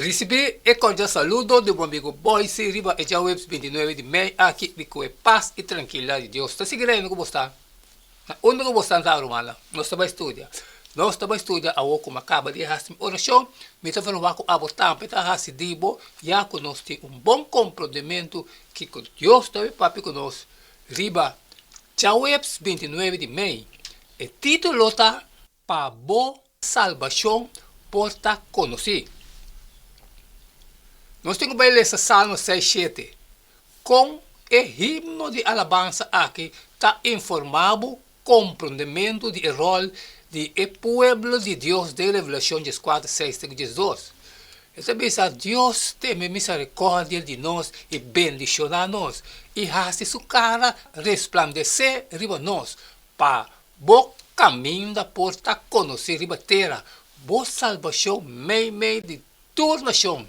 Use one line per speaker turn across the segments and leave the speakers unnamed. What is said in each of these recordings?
Risibí e kòrdial saludo di bo amigu Boyce riba e djaweps binti nuebe di mei aki di ku e pas i trankildat di Dios ta sigui reina ku bo sta. Na unda ku bo sta Anza Romana? Nos ta bai studia. Nos ta bai studia awor ku mi a kaba di hasi mi orashon. Mi ta vergua ku abo tambe ta hasi di bo, ya ku nos tin un bon komprondementu kiko Dios ta bai papia ku nos riba djaweps binti nuebe di mei. E título ta. Pa bo salbashon por ta konosí. Nos tin ku bai lesa Salmo seis shete, Kon e himno di alabansa aki ta informá bo komprondementu di e ròl di e pueblo di Dios den Revelashon djes kuater, seis te ku djes dos. E ta bisa, Dios tene miserikòrdia di nos i bendishoná nos, i hasi su kara resplandesé riba nos pa Bo kaminda por ta konosé riba tera, bo salbashon meimei di tur nashon.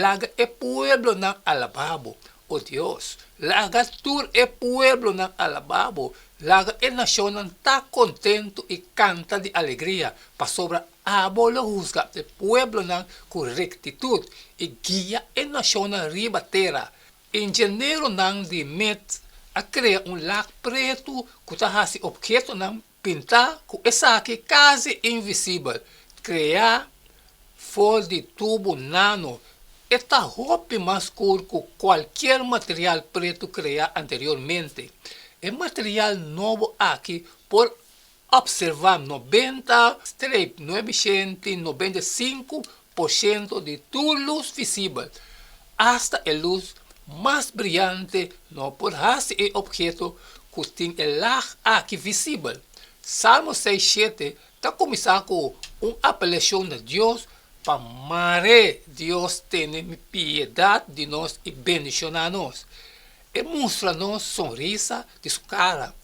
Laga e pueblonan alabá bo, O Dios, laga tur e pueblonan alabá bo, laga e nashonnan ta kontentu i kanta di alegria, pasobra abo lo husga e pueblonan ku rektitut i guia e nashonnan riba tera. Ingenieronan di Met a krea un lak pretu ku ta hasi obhetonan pintá ku esaki kasi invisibel, kreá for di tubu nano. E ta hopi mas skur ku kualkier material pretu kreá anteriormente. E material nobo aki por Opservá nobenta streip nuebe shenti, nobenta i sinku por shento, di tur lus visibel, asta e lus mas briante, no por hasi e opheto ku tin e lag aki visibel. Salmo seis shete ta kuminsá ku un apelashon na Dios pa mar'é, Dios tene piedat di nos i bendishoná nos. E mustra nos sonrisa di su cara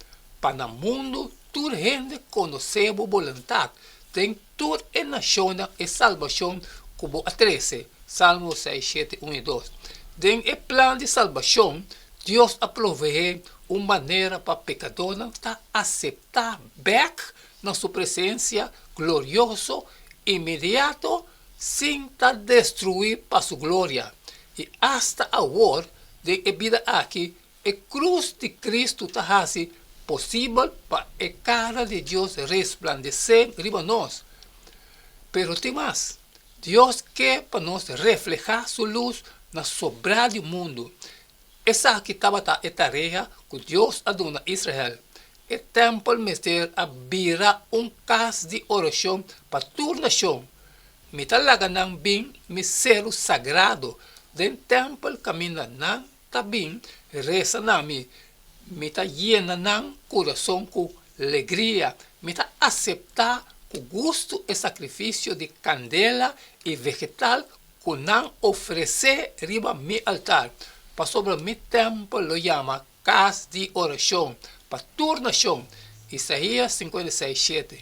pa na mundo tur hende conoce bo boluntad, den tur e nacionnan e salbacion cu bo a trece. Salmo seis, shete, un y dos. Den e plan di salbacion, Dios a provehe un manera pa pecadornan ta acepta bek na su presencia glorioso inmediato, Sin ta destruí pa Su gloria. I asta awor, den e bida aki, e krus di Kristu ta hasi posibel pa e kara di Dios resplandesé riba nos. Pero tin mas. Dios ke pa nos reflehá Su lus na sobrá di mundu, Esaki tabata e tarea ku Dios a duna Israel, E tèmpel mester a bira un kas di orashon pa tur nashon. Mi ta laga nan bin mi selu sagrado. Den tèmpel kaminda nan ta bin resa na mi, mi ta yena nan kurason ku legria. Mi ta aseptá ku gustu e sakrifisio di kandela i vegetal ku nan ofresé riba mi altar, pasobra mi tèmpel lo yama kas di orashon pa tur nashon. Isaías sinkanta i seis shete.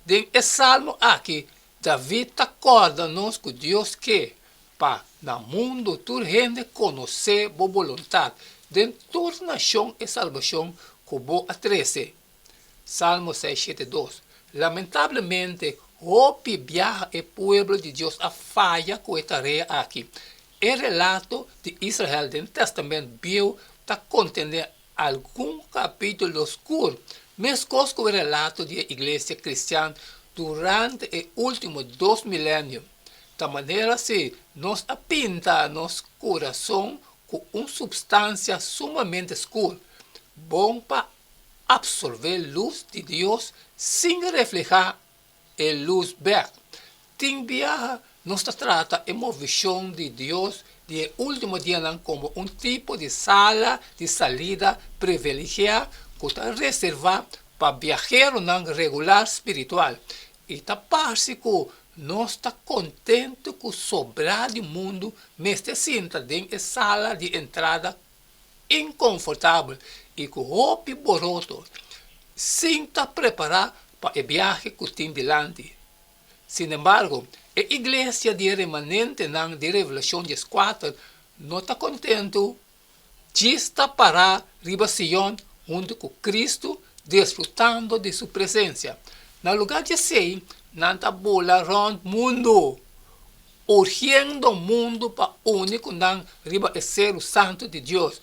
Den e salmo akí, David ta kòrda nos ku Dios ke pa na mundu tur hende konosé bo boluntat, den tur nashon e salbashon ku bo a trese. Salmo seis shete dos, Lamentablemente, hopi biaha e pueblo di Dios a faya ku e tarea aki. E relato di Israel den Tèstamènt Bieu ta kontendé algun kapítulo skur, meskos ku e relato di e iglesia kristian durante e último dos milenio. Ta manera si nos a pinta nos kurason ku un supstansia sumamente skur, bon pa absorbé lus di Dios sin reflehá e lus bèk. Tin biaha nos ta trata e movishon di Dios di e último dianan komo un tipo di sala di salida priviligiá ku ta reservá pa biaheronan regular spiritual. I ta parse ku nos ta kontentu ku sobrá di mundu mester sinta den e sala di entrada inkonfortabel i ku hopi boroto sin ta prepará pa e biahe ku tin dilanti. Sinembargo, e iglesia di e remanentenan di Revelashon dies kuater no ta kontentu djis ta pará riba Sion huntu ku Kristu disfrutando di su presensia. Na lugá di esei, nan ta bula rònt mundu. Urgiendo mundu pa uni ku nan riba e selu santu di Dios,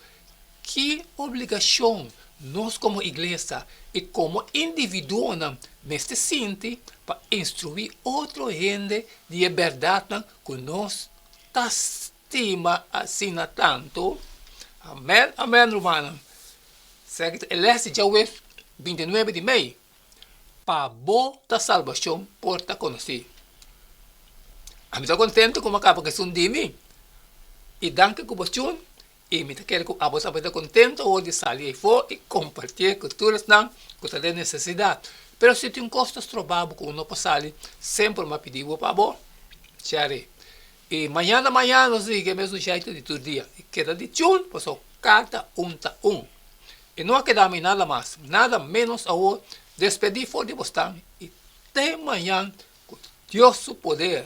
ki obligashon nos komo iglesia i komo individuonan mester sinti pa instruí otro hende di e bèrdatnan ku nos ta stima asina tantu? Amèn, amèn, rumannan. Serka ta e lèsnan djawe bintinuebe di mei? pa bo ta salbashon por ta konosí. Ami ta kontentu ku mi a kaba ku esun di mi, i danki ku bo shun, i mi ta kere ku abo tambe ta kontentu awor di sali afó i kompartié ku tur esnan ku ta den nesesidat. Pero si tin kos ta stroba bo ku bo no por sali, semper mi a pidi bo pa bo share. I mañana mañana nos ta higi e mesun shaitu di tur dia, i keda di chul, paso kada un ta un. I no a keda mi nada mas, nada menos awor, despedi for di bosnan, i te mañan, ku Dios su poder.